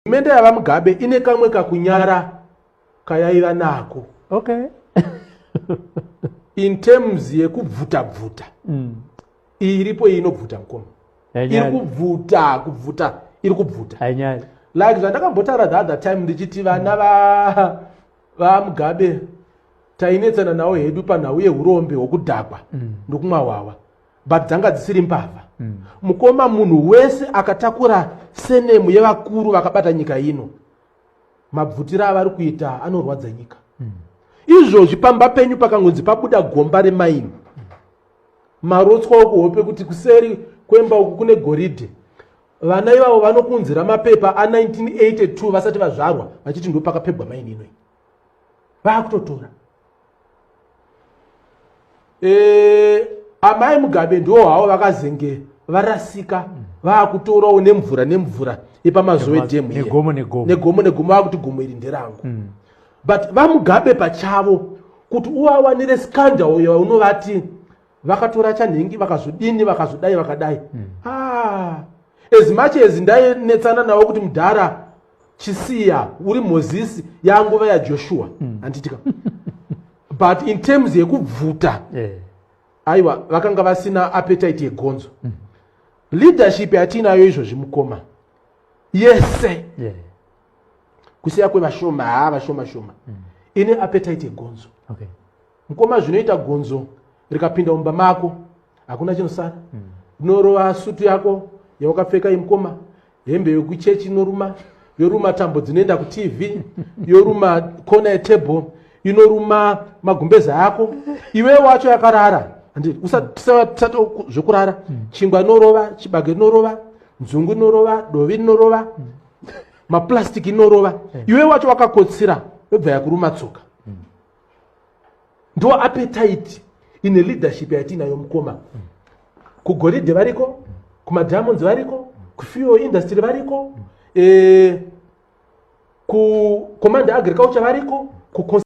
Hurumende yaVaMugabe ine kamwe kakunyara kayaiva nako. Okay. In terms yekubvuta bvuta. Mm. Iyi iripo iyi inobvuta mukoma. Iri kubvuta kubvuta iri kubvuta. Hainyari. Like zvandakambotaura the other time ndichiti vana va VaMugabe tainetsana nawo hedu panhau yehurombe hwokudhakwa mm. nokumwa hwahwa. but dzanga dzisiri mbavha mm. mukoma munhu wese akatakura senemu yevakuru vakabata nyika ino mabvutira avari kuita anorwadza nyika mm. izvozvi pamba penyu pakangonzi pabuda gomba remaini mm. marotswa okuhope kuti kuseri kwemba uku kune goridhe vana ivavo vanokunzira mapepa a1982 vasati vazvarwa vachiti ndopakapebwa maini inoi vakutotora eh, amai mugabe ndiwo havo vakazenge varasika vakutorawo nemvura nemvura yepamazowe dam negomo negomo vakuti gomo iri nderangu mm. but vamugabe pachavo kuti uvawanire scandal yaunovati vakatora chanhingi vakazodini vakazodai vakadai mm. ah, as much as ndainetsana navo kuti mudhara chisiya uri mozisi yanguva yajoshua mm. anditika but in terms yekubvuta yeah. aiwa vakanga vasina appetite yegonzo mm. leadership yatiinayo izvozvi mukoma yese yeah. kusiya kwevashoma haa vashoma shoma mm. ine appetite yegonzo okay. mkoma zvinoita gonzo rikapinda mumba mako hakuna chinosara mm. unorova sutu yako yawakapfeka imkoma hembe yokuchechi inoruma yoruma tambo dzinoenda kutv yoruma kona yetable inoruma magumbeza yako iwe wacho yakarara handiti usatisati zvekurara hmm. chingwa inorova chibage inorova nzungu inorova dovi inorova hmm. maplastic inorova hmm. iwe wacho wakakotsira yobva yakuruma tsoka ndo appetite ine leadership yatiinayo mukoma kugoridhe variko kumadiamonds variko kufuel industry variko eh, kucommand agriculture variko ku